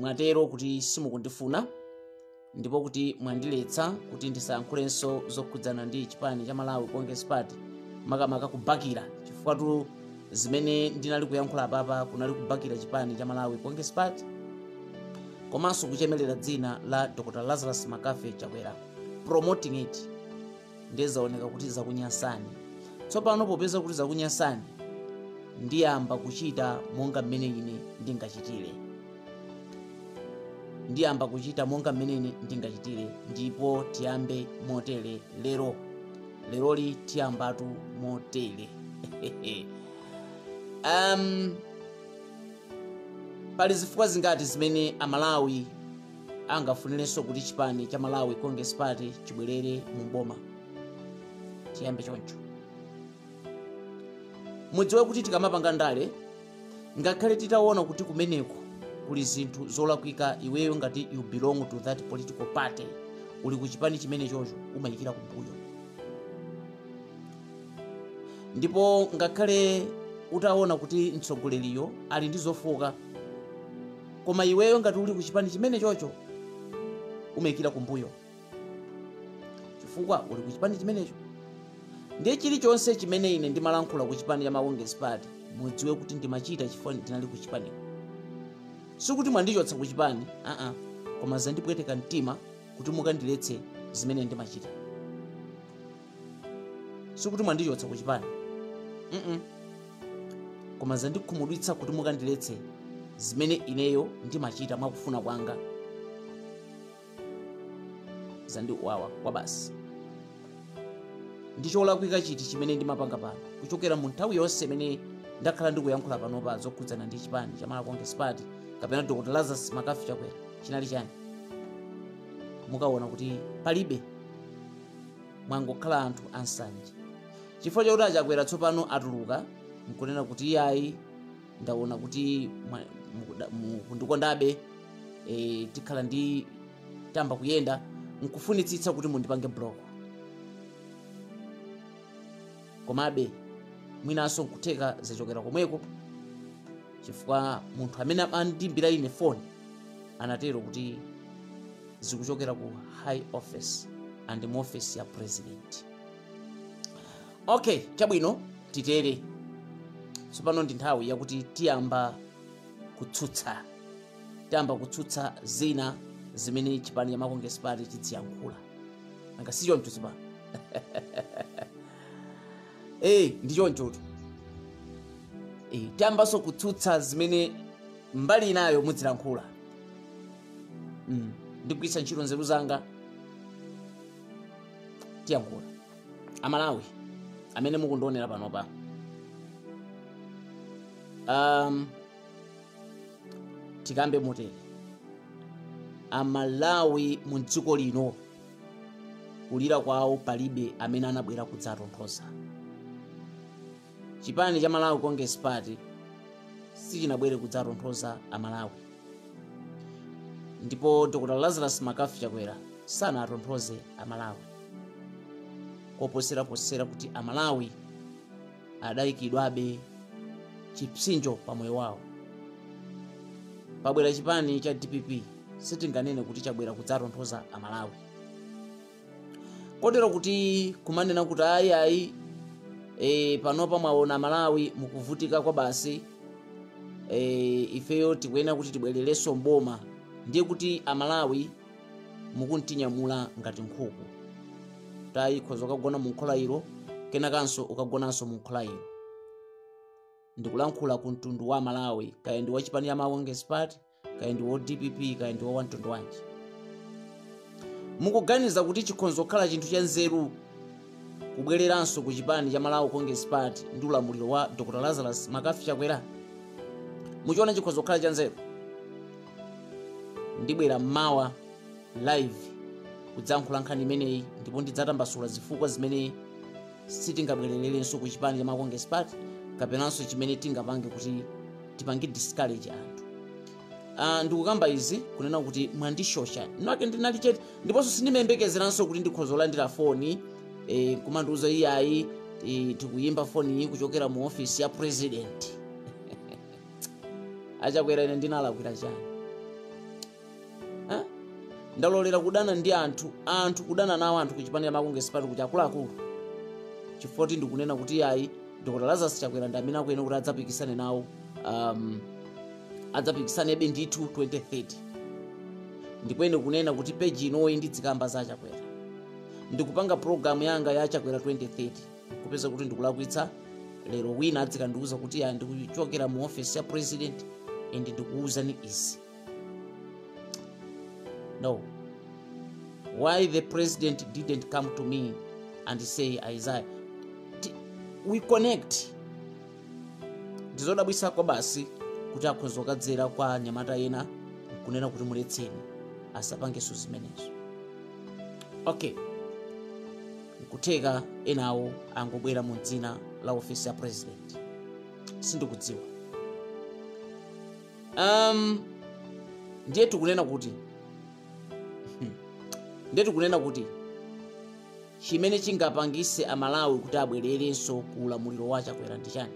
mwatero kuti simukundifuna ndipo kuti mwandiletsa kuti ndisayankhulenso zokhudzana ndi chipani cha malawi congress party makamaka kubakira chifukwatu zimene ndinali kuyankhula apapa kunali kubakira chipani cha malawi congress party komanso kuchemelera dzina la dr lazarus mccarthy chakwera promoting it ndiye zaoneka kuti zakunyasani tsopano popeza kuti zakunyasani ndiyamba kuchita monga mmene ine ndingachitire ndiyamba kuchita monga mmene ine ndingachitire ndipo tiyambe motere lero leroli tiyambatu motere um, pali zifukwa zingati zimene amalawi angafunirenso kuti chipani cha malawi congress party chibwerere mu boma tiyambe choncho mudziwe kuti tikamapanga ndale ngakhale titaona kuti kumeneko kuli zinthu zolakwika iweyo ngati you belong to that political party uli ku chipani chimenechocho umayikira kumbuyo ndipo ngakhale utaona kuti mtsogoleriyo ali ndi zofooka koma iweyo ngati uli ku chipani chimenechocho umayikira kumbuyo chifukwa uli ku chipani chimenecho ndiye chilichonse chimene ine ndimalankhula ku chipani cha malawi congress party mudziwe kuti ndimachita chifukwa ndinali ku chipani sikuti mwandichotsa ku chipani aa koma zandipweteka mtima kuti mukandiletse zimene ndimachita sikuti mwandichotsa ku chipani mm koma zandikhumudwitsa kuti mukandiletse zimene ineyo ndimachita mwakufuna kwanga zandiwawa kwabasi ndicholakwika chiti chimene ndimapanga pano kuchokera mu nthawi yonse imene ndakhala ndikuyankhula panopa zokhudzana ndi chipani cha Malawi Congress Party kapena Dr. Lazarus McCarthy Chakwera chinali chani mukaona kuti palibe mwangokhala anthu ansanje chifukwa chakuti achakwera tsopano atuluka nkunena kuti iyayi ndaona kuti mwa- mukuda- mukundikondabe e, ndikhala nditayamba kuyenda nkufunitsitsa kuti mundipange block komabe mwinanso nkutheka zachokera komweko chifukwa munthu amene andimbira ine foni anatero kuti zikuchokera ku high office and mu office ya president okay chabwino titere tsopano ndi nthawi yakuti tiyamba kutsutsa tiyamba kutsutsa zina zimene chipani cha Malawi Congress Party chidziyankhula nanga si choncho tsopano eh ndi chonchotu eh tiyambanso kutsutsa zimene mbali inayo mudzilankhula mm. ndigwiritsa ntchito nzeru zanga tiyankhule amalawi amene mukundionera panopa um, tikambe motere amalawi mu dziko lino kulira kwawo palibe amene anabwera kudzatonthoza chipani cha malawi congress party sichinabwere kudzatonthoza amalawi ndipo dr lazarus McCarthy chakwera sanatonthoze amalawi koposeraposera kuti amalawi adayikidwabe chipsinjo pa moyo wawo pobwera chipani cha dpp sitinganene kuti chabwera kudzatonthoza amalawi kotero kuti kumanena kuti ayi ayi e, panopa mwaona amalawi mukuvutika kwa basi e, ifeyo tikuyenera kuti tibwererenso mboma ndiye kuti amalawi mukutinyamula ngati nkhuku tayi khoza ukagona mu nkhola ilo kenakanso ukagonanso mu nkhola ilo ndikulankhula ku mtundu wa amalawi kaya ndi wachipani ya malawi congress party kaya ndi wa dpp kaya ndi wa wamtundu wanji mukuganiza kuti chikhonza kukhala chinthu cha nzeru kubwereranso ku chipani cha malawi congress party ndi ulamuliro wa dr lazarus McCarthy chakwera muchiona chikhonza kukhala cha nzeru ndibwera mmawa live kudzalankhula nkhani imeneyi ndipo ndidzatambasula zifukwa zimene sitingabwerererenso ku chipani cha malawi congress party kapenanso chimene tingapange kuti tipange discourage anthu uh, ndikukamba izi kunena kuti mwandishosha nake ndinali chete ndiponso sindimayembekezeranso kuti ndikhoza kulandira foni eh, kumandiuza iyayi eh, tikuyimba foni iyi kuchokera mu ofisi ya president achakwera ine ndinalakwira chani Eh? ndalolera kudana ndi anthu anthu kudana nawo anthu kuchipanira Malawi Congress Party kuti akuluakulu chifukwa kuti ndikunena kuti ayi dr lazarus chakwera ndi amene akuyenera kuti adzapikisane nawo um, adzapikisanebe ndithu 2030 ndipo ine kunena kuti peji inoyi ndizikamba za chakwera ndikupanga programu yanga ya chakwera 2030 kupeza kuti ndikulakwitsa lero wina adzikandiuza kuti ayi ndikuchokera mu ofesi ya president and ndikuwuzani izi No. Why the president didn't come to me and say Isaiah? Ti- We connect. ndizodabwitsa kwabasi kuti akhoza kukadzera kwa anyamata ena kunena kuti muletseni asapangenso zimenezo okay nkutheka enawo angobwera mu dzina la ofesi ya president sindikudziwa um, ndiye tikunena kuti ndiye tikunena kuti chimene chingapangise amalawi kuti abwererenso ku ulamuliro wa chakwera ndi chiyani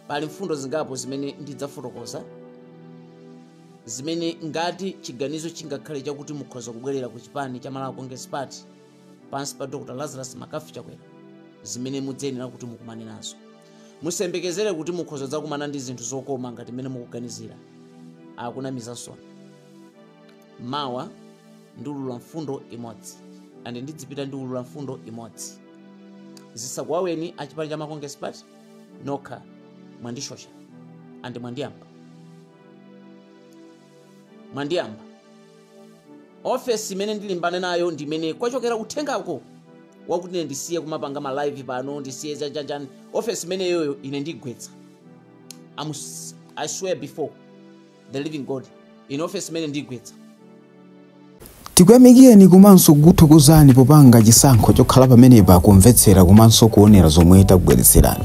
pali mfundo zingapo zimene ndidzafotokoza zimene ngati chiganizo chingakhale chakuti mukhoza kubwerera ku chipani cha malawi congress party pansi pa dr lazarus mccarthy chakwera zimene mudzayenera kuti mukumane nazo musayembekezere kuti mukhoza kudzakumana ndi zinthu zokoma ngati mmene mukuganizira akunamizanso mawa ndiulula mfundo imodzi andi ndidzipita ndiulula mfundo imodzi zisakuwaweni achipani cha ma congress party nokha mwandisosa andi mwandiyamba mwandiyamba ofesi imene ndilimbana nayo ndi imene kwachokera uthengako wakuti ine ndisiye kumapanga ma live pano ndisiye chanichani ofesi imeneyoyo ine ndigwetsa i swear before the living god ine ofesi imene ndigwetsa tikuyamikireni komanso kukuthokozani popanga chisankho chokhala pamenepa kumvetsera komanso kuonera zomwe takubweretserani